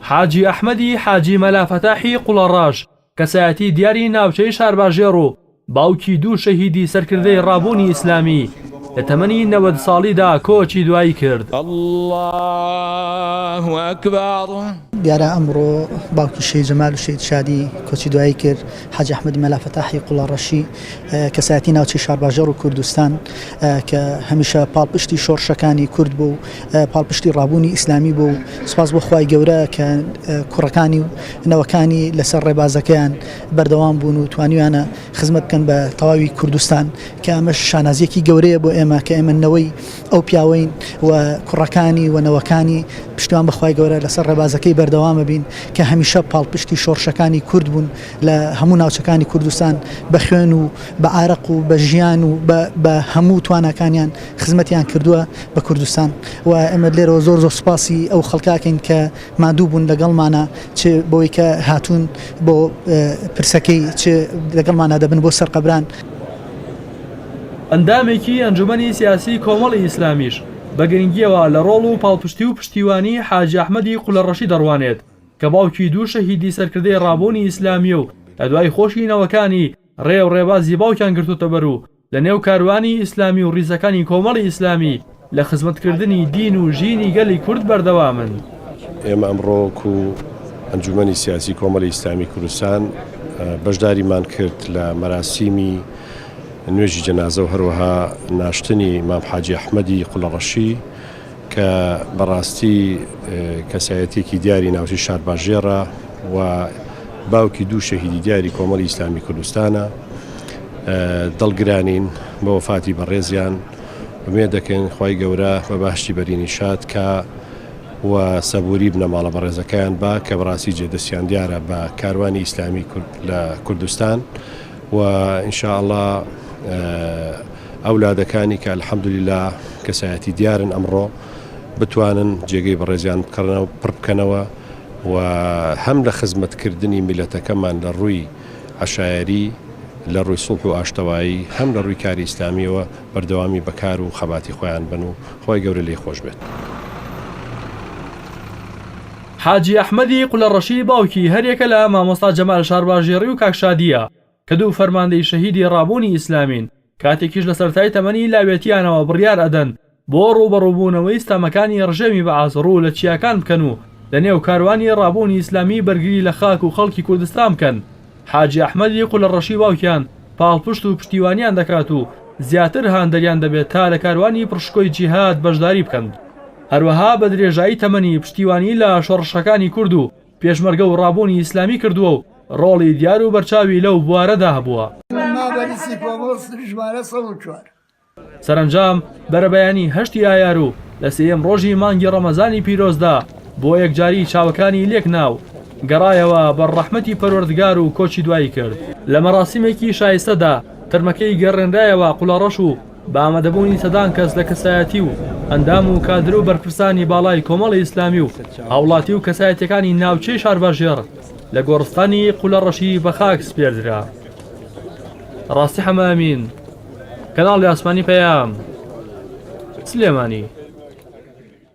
حاجی ئەحمەدی حاجی مەلا فەتاحی قوڵەڕەش، کەسایەتی دیاری ناوچەی شارباژێڕ و باوکی دوو شەهیدی سەرکردەی ڕابوونی ئیسلامی، لە تەمەنی نەوەد ساڵیدا کۆچی دوایی کرد. دیارە ئەمڕۆ باوکی شەهید جەمال و شەهید شادی کۆچی دوایی کرد. حاجی ئەحمەدی مەلا فەتاحی قوڵەڕەشی، کەسایەتی ناوچەی شارباژێڕ و کوردستان کە هەمیشە پاڵپشتی شۆڕشەکانی کورد بوو و پاڵپشتی ڕابوونی ئیسلامی بوو و سوپاس بۆ خوای گەورە کە کوڕەکانی و نەوەکانی لەسەر ڕێبازەکەیان بەردەوام بوون و توانیویانە خزمەت بکەن بە تەواوی کوردستان کە ئەمەش شانازییەکی گەورەیە بۆ ئێمە کە ئێمە نەوەی ئەو پیاوەین و کوڕەکانی و نەوەکانی، پشتیوان بە خوای گەورە لەسەر ڕێبازەکەی بەردەوامەبین کە هەمیشە پاڵپشتی شۆڕشەکانی کورد بوون لە هەموو ناوچەکانی کوردستان بە خوێن و بە ئارەق و بە ژیان و بە هەموو تواناکانیان خزمەتیان کردووە بە کوردستان و ئێمە لێرەوە زۆر زۆر سوپاسی ئەو خەڵکەکەین کە ماندوو بوون لەگەڵمانە چ بەوەی کە هاتوون بۆ پرسەکەی چ لەگەڵمانا دەبن بۆ سەرقەبران. ئەندامێکی ئەنجومەنی سیاسی کۆمەڵی ئیسلامیش بە گرنگیەوە لە ڕۆڵ و پاڵپشتی و پشتیوانی حاجی ئەحمەدی قولەڕەشی دەڕوانێت کە باوکی دوو شەهیدی سەرکردەی ڕابوونی ئیسلامیە و لە دوای خۆشی نەوەکانی ڕێ و ڕێبازی باوکیان گرتۆتەبەر و لە نێو کاروانی ئیسلامی و ڕیزەکانی کۆمەڵی ئیسلامی لە خزمەتکردنی دین و ژینی گەلی کورد بەردەوامن. ئێمە ئەمڕۆ وەکو ئەنجومەنی سیاسی کۆمەڵی ئیسلامی کوردستان بەشداریمان کرد لە مەراسیمی نوێژی جەنازە و هەروەها ناشتنی مام حاجی ئەحمەدی قولەڕەشی کە بەڕاستی کەسایەتێکی دیاری ناوچی شارباژێڕە و باوکی دوو شەهیدی دیاری کۆمەڵی ئیسلامی کوردستانە دڵگرانین بە وەفاتی بەڕێزیان ئومێد دەکەین خوای گەورە بە باشی بەرینی شاد کا و سەبووری بنەماڵە بەڕێزەکەیان با کە بەڕاستی جێ دەستیان دیارە بە کاروانی ئیسلامی لە کوردستان و ئینشاءله ئەولادەکانی کە الحەمدلیلا کەسایەتی دیارن ئەمڕۆ بتوانن جێگەی بەڕێزیان بکڕنەوە پڕ بکەنەوە و هەم لە خزمەتکردنی میلەتەکەمان لە ڕووی عەشایەری لە ڕووی سوڵح و ئاشتەوایی هەم لە ڕووی کاری ئیسلامییەوە بەردەوامی بە کار و خەباتی خۆیان بن و خوای گەورە لێی خۆش بێت. حاجی ئەحمەدی قولەڕەشی باوکی هەر یەکە لە مامۆستا جەمال شارباژێڕی و کاک شادییە کە دوو فەرماندەی شەهیدی ڕابوونی ئیسلامین، کاتێکیش لە سەرەتای تەمەنی لاوێتیانەوە بڕیار ئەدەن بۆ ڕووبەڕووبوونەوەی ستەمەکانی ڕژێمی بەعس ڕوو لە چیاکان بکەن و لە نێو کاروانی ڕابوونی ئیسلامی بەرگری لە خاک و خەڵکی کوردستان بکەن حاجی ئەحمەدی قولەڕەشی باوکیان پاڵپشت و پشتیوانیان دەکات و زیاتر هاندەریان دەبێت تا لە کاروانی پڕشکۆی جیهاد بەشداری بکەن هەروەها بە درێژایی تەمەنی پشتیوانی لە شۆڕشەکانی کورد و پێشمەرگە و ڕابوونی ئیسلامی کردووە و ڕۆڵی دیار و بەرچاوی لەو بوارەدا هەبووە. سەرەنجام بەرەبەیانی هەشتی ئایار و لە سێیەم ڕۆژی مانگی ڕەمەزانی پیرۆزدا بۆ یەکجاری چاوەکانی لێک نا و گەڕایەوە بەر ڕەحمەتی پەروەردگار و کۆچی دوایی کرد. لە مەراسیمێکی شایستەدا تەرمەکەی گەڕێنرایەوە قوڵەڕەش و بە ئامادەبوونی سەدان کەس لە کەسایەتی و ئەندام و کادر و بەرپرسانی باڵای کۆمەڵی ئیسلامی و هاوڵاتی و کەسایەتیەکانی ناوچەی شارباژێڕ لە گۆڕستانی قولەڕەشی بە خاک سپێردرا. ڕاستی حەمە ئەمین، کەناڵی ئاسمانی پەیام، سلێمانی.